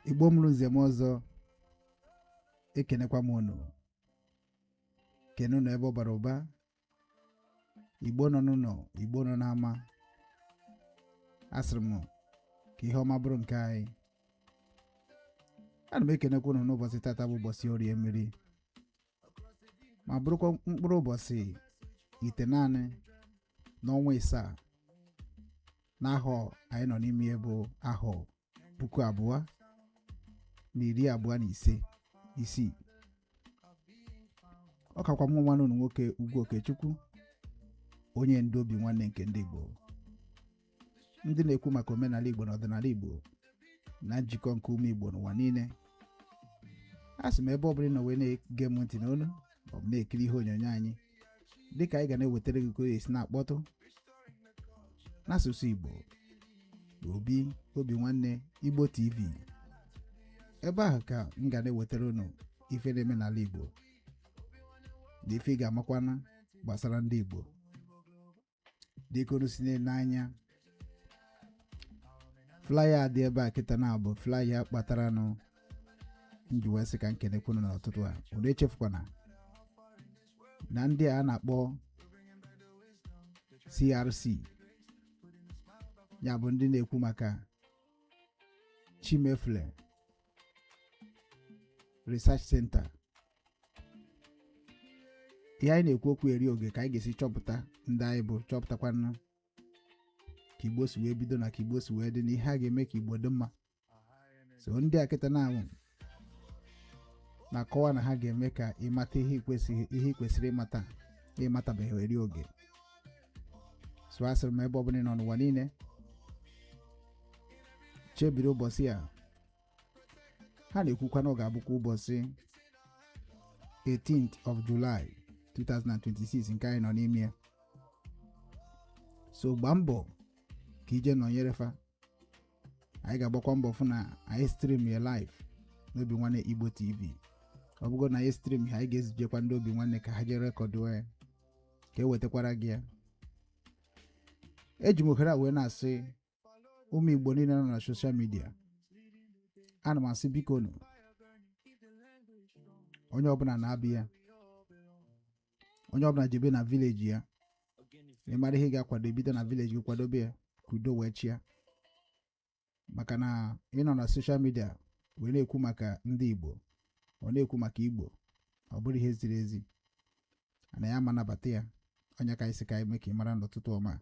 igbo mụrụ nze mụọ ọzọ ekenekwa m unu kene unu ebe ọ bara ụba igbo nọ n'ụlọ igbo nọ n'ama asịrị m ka ihe ọma bụrụ nke anyị ana m ekenekwa unu n'ụbọchị tata bụ ụbọchị orie mmiri ma bụrụkwa mkpụrụ ụbọchị itenaanị n'ọnwa isaa n'ahọ anyị nọ n'ime ya bụ ahọ puku abụọ na iri abụọ na ise isii ọ kakwa mụ nwanne unu nwoke ugwu okechukwu onye ndu obinwanne nke ndị igbo ndị na-ekwu maka omenala Igbo na ọdịnala Igbo na njikọ nke ụmụ Igbo n'ụwa niile asị m ebe ọ bụla ị nọ wee na-ege m ntị n'onu ma ọ bụ na-ekiri ihe onyonyo anyị dịka anyị ga na-ewetara gị ka o esi na-akpọtụ n'asụsụ Igbo obi Obinwanne Igbo TV ebe ahụ ka m ga na-ewetara unu ife na-eme n'ala Igbo na ife ị ga-amakwanụ gbasara ndị Igbo dịka unu si na-ele anya flyer a dị ebe a kịta na ọ bụ flyer kpataranụ m ji wee sị ka m kenekwa unu n'ọtụtụ a unu echefukwana na ndị a na-akpọ crc ya bụ ndị na-ekwu maka chimefle research center ihe anyị na-ekwu okwu eri oge ka anyị ga-esi chọpụta ndị anyị bụ chọpụtakwanụ ka igbo si wee bido na ka igbo si wee dị na ihe a ga-eme ka igbo dị mma so ndị a kịta na-anwụ na-akọwa na ha ga-eme ka ị mata ihe i kwesịrị ịmata ị matabeghị eri oge so asịrị m ebe ọbụla ị nọ n'ụwa niile chebiri ụbọchị a ha na-ekwukwa na ọ ga-abụkwa ụbọchị 18th of July 2026 nke anyị nọ n'ime ya so gbaa mbọ ka i jee nọnyere fa anyị ga-agbakwa mbọ fụ na anyị stream ya live n'Obinwanne Igbo TV ọ bụgodu na anyị stream ya anyị ga-ezijekwa ndị Obinwanne ka ha jee record ya ka e wetakwara gị ya eji m ohere a wee na-asị ụmụ Igbo niile nọ na social media ana m asị bikonụ onye ọbụla naa be ya onye ọbụla jebe na village ya ị mara ihe ị ga-akwado i bido na village gị kwadobe ya ka udo wee chịa maka na ịnọ na social media wee na-ekwu maka ndị Igbo wee na-ekwu maka Igbo ọ bụrọ ihe ziri ezi na ya ma nabata ya ọ ya ka anyị sị ka anyị mee ka ị mara n'ụtụtụ ọma a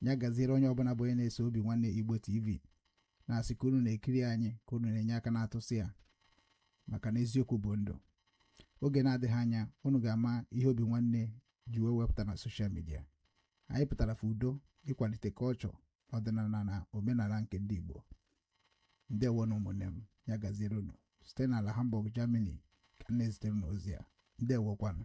ya gaziere onye ọbụla bụ onye na-eso Obinwannem Igbo TV na-asị ka unu na-ekiri anyị ka unu na-enye aka na-atụsị ya maka na eziokwu bụ ndụ oge na-adịghị anya unu ga-ama ihe Obinwannem ji wee wepụta na social media anyị pụtara for udo ịkwalite culture ọdịnala na omenala nke ndị Igbo ndewonụ ụmụnne m ya gaziere unu site n'ala Hamburg Germany ka m na-ezitere unu ozi a ndewokwanụ